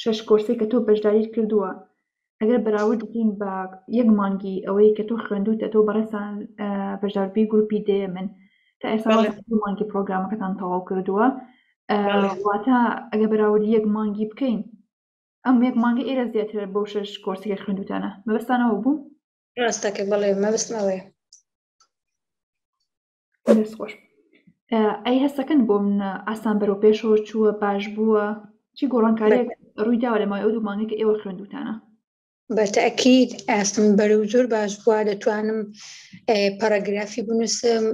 شەش کۆرسەی کە تۆ بەشداریت کردووە ئەگەر بەراورد بکەین بە یەک مانگی ئەوەی کە تۆ خوێندوتە تۆ بەڕێسان بەشداربی گروپی دێ من تا ئێستا مانگی پرۆگرامەکەتان تەواو کردووە واتە ئەگە بەراورد یەک مانگی بکەین ئەم یەک مانگی ئێرە زیاتر بۆ شەش کۆرسەکە خوێندوتانە مەبستانەوە بوو ڕاستەکە بەڵێ مەبستمەوەی دەست خۆش ئەی هەستەکەن بۆ من ئاسان بەرەو پێشەوە چووە باش بووە چی گۆڕانکاریێک ڕوویداوە لە مای ئەو دوو مانگێک ئێوە خوێندوتانە بە تاکیید ئاستم بەرە و زۆر باش بووە دەتوانم پەرەگرافی بنووسم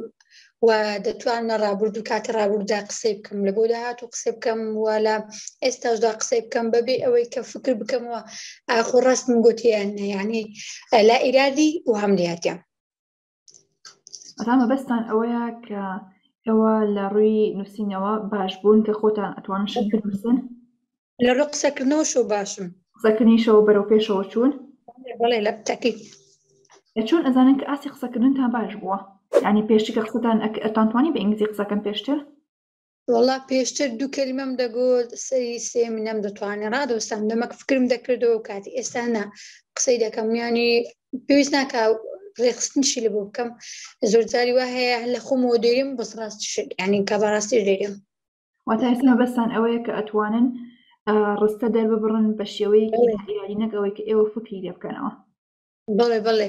و دەتوانە ڕابرد و کاتی ڕابردا قسەی بکەم لە بۆ داهات و قسە بکەم وە لە ئێستاشدا قسەی بکەم بەبێ ئەوەی کە فکر بکەمەوە ئاخۆ ڕاستم گوتیان نەیانی لا ئیرادی و هەم دیاتیان ڕامەبەستان ئەوەیە کە ئەوە لە ڕووی نووسینەوە باش بوون کە خۆتان ئەتوان شکردن لە ڕوو قسەکردنەوەشەوە باشم قسەکردنیشەوە بەرەو پێشەوە چوون بڵێ لە تەکی چۆن ئەزانن کە ئاسی قسەکردنتان باش بووە ینی پێشتی کە قسەتان ئەتانتوانی بە ئینگلیزی قسەکەم پێشتر وەڵا پێشتر دوو کەلیمەم دەگوت سەری سێم نەم دەتوانێت ڕادۆستان دەمەک فکرم دەکردەوە کاتی ئێستا نا قسەی دەکەم میانی پێویست ناکە ڕێخستنشی لە بۆ بکەم زۆر جاری وا هەیە لە خۆمەوە دێرم بەس ڕاست شت یعنی کە بەڕاستی دێرم واتە ئێستا بەسان ئەوەیە کە ئەتوانن ڕستە دەرببڕن بە شێوەیەکی ئیرادی نەگەوەی کە ئێوە فکری لێ بکەنەوە بڵێ بڵێ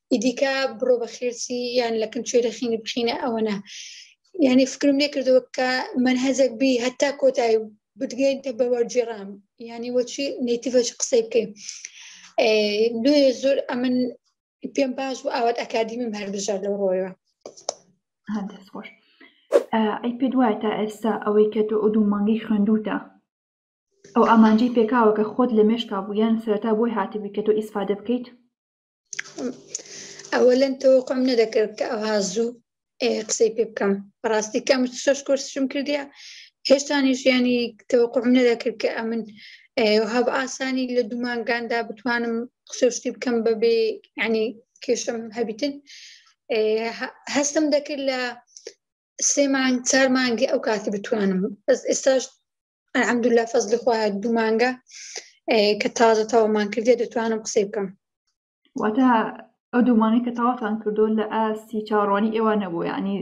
ئیدیکە بڕۆ بە خێرسی یان لە کن کوێرە خینی بخینە ئەوەنە یعنی فکرم لێ کردەوە کە من هەزێک بی هەتا کۆتایی بدگەینتە بە وەرجێڕام یعنی وەچی نیتیڤەچ قسەی بکەین نوێ زۆر ئەمن پێم باش بوو ئاوات ئەکادیمیم هەربژار لەو ڕۆیەوە هەندێک خۆش ئەی پێ دوایە تا ئێستا ئەوەی کە تۆ ئەو دوو مانگی خوێندوتە ئەو ئامانجی پێکاوە کە خۆت لە مێشکا بوو یان سەرتا بۆی هاتبی کە تۆ ئیسفادە بکەیت ئەوە لەن تەوەقم نەدەکرد کە ئەوها زوو قسەی پێ بکەم بەڕاستی کەم شش کورسشم کردیا هێشتانیش ینی تەوەقم نەدەکرد کە ئەمن هەب ئاسانی لە دوومانگاندا بتوانم قسەشتی بکەم بەبێ ینی کێشم هەبیتن هەستم دەکرد لە سێ مانگ چار مانگی ئەو کاتی بتوانم بەس ئێستاش ئەلحەمدوللا فەزلی خۆیان دوو مانگە کە تازە تەوامان کردێ دەتوانم قسەی بکەم واتە ئەو دوومانەی کە تاواتان کردو لە ئاستی چاڕوانی ئێوە نەبوو ینی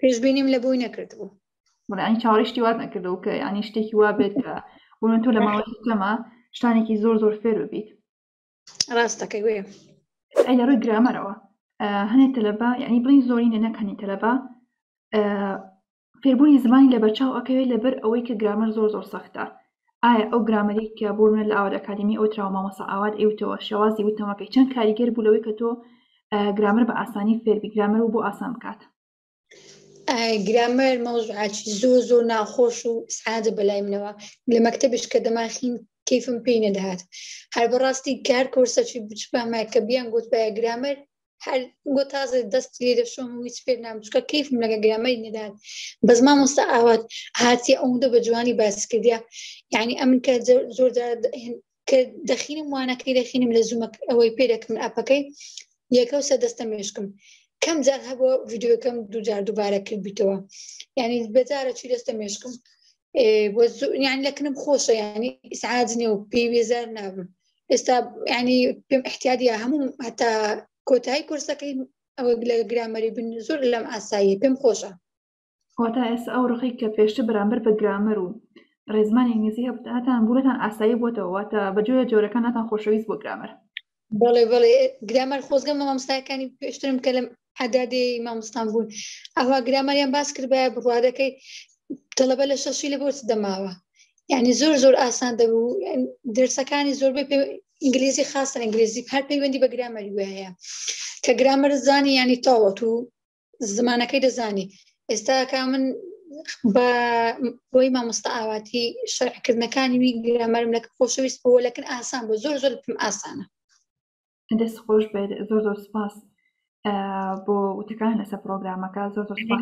پێشبینیم لە بۆی نەکرد بوو مەلانی چاڕیشتی وات نەکردەوە کە ینی شتێکی وا بێت کە بۆن تۆ لە ماوەی کەمە شتانێکی زۆر زۆر فێر ببیت ڕاستەکەی وێ ئەی لە ڕووی گرامەرەوە هەنێ تەلەبە یعنی بڵین زۆرینە نەکەنی تەلەبە فێربوونی زمانی لەبەرچاو ئەکەوێت لەبەر ئەوەی کە گرامەر زۆر زۆر سەختە ئایا ئەو گرامەرەی کە بۆ منە لە ئاوات ئەکادمی ئەوت راوە مامۆسا ئاوات ئەیوتەوە شێوازی وتەمەکەی چەند کاریگەر بوو لەوەی کە تۆ گرامەر بە ئاسانی فێربی گرامەر و بۆ ئاسان بکات گرامەر مەوزعاچی زۆ زۆ ناخۆش و سعادە بەلای منەوە لە مەکتتەبش کە دەماخین کەیفم پێی نەدەهات هەر بەڕاستی کار کۆرسەچی بچپامە کە بیان گوتبایە گرامەر هەر گۆ تازە دەست لێ لە شۆم هیچ پێ نام چکە کەیفم لەگە گرامەی نەدات بەس مامۆستا ئاوات هاتی ئەوەندە بە جوانی باس کردیا یعنی ئەمن کە زۆر کە دەخینم وانەکەی دەخینم لە زوومە ئەوەی پێ دەکەم ئەپەکەی یەکە و سە دەستە مێشکم کەم جار هەبووە ڤیددیوەکەم دوجار دووبارە کرد بیتەوە یعنی بەجارە چی دەستە مێشکم یان لەکنم خۆشە ینی ئیسعاج نیە و پێی وێزار نابم ئێستا ینی پێم احتیادە هەموو هەتا کۆتایی کورسەکەی ئەوە لە گرامەری بن زۆر لەم ئاساییە پێم خۆشە واتە ئێستا ئەو ڕخی کە پێشتە بەرامبەر بە گرامەر و ڕێزمانی ئینگلیزی هەبتان بوونەتان ئاسایی بۆتەوە واتە بەجۆرە جۆرەکانتان خۆشەویست بۆ گرامەر بەڵێ بەڵێ گرامەر خۆزگە مامۆستاکانی پێشترم کە لەم عدادی مامۆستان بوون ئەوها گرامەریان باس کردبە بڕوارەکەی تەلەبە لە شەشی لە بۆچ دەماوە یعنی زۆر زۆر ئاسان دەبوو درسەکانی زۆربەی پێ ئینگلیزی خاستە ئینگلیزی هەر پەیوەندی بە گرامەری وایە کە گرامەر زانی ینی تاوەت و زمانەکەی دەزانی ئێستا کا من بە بۆی مامۆستا ئاواتی شەرعکردنەکانی وی گرامەرم لە خۆشەویست بۆ لەکن ئاسان بۆ زۆر زۆر پم ئاسانە دەست خۆش بێت زۆر زۆر سپاس بۆ وتەکان لەسەر پرۆگرامەکە زۆر زۆر سپاس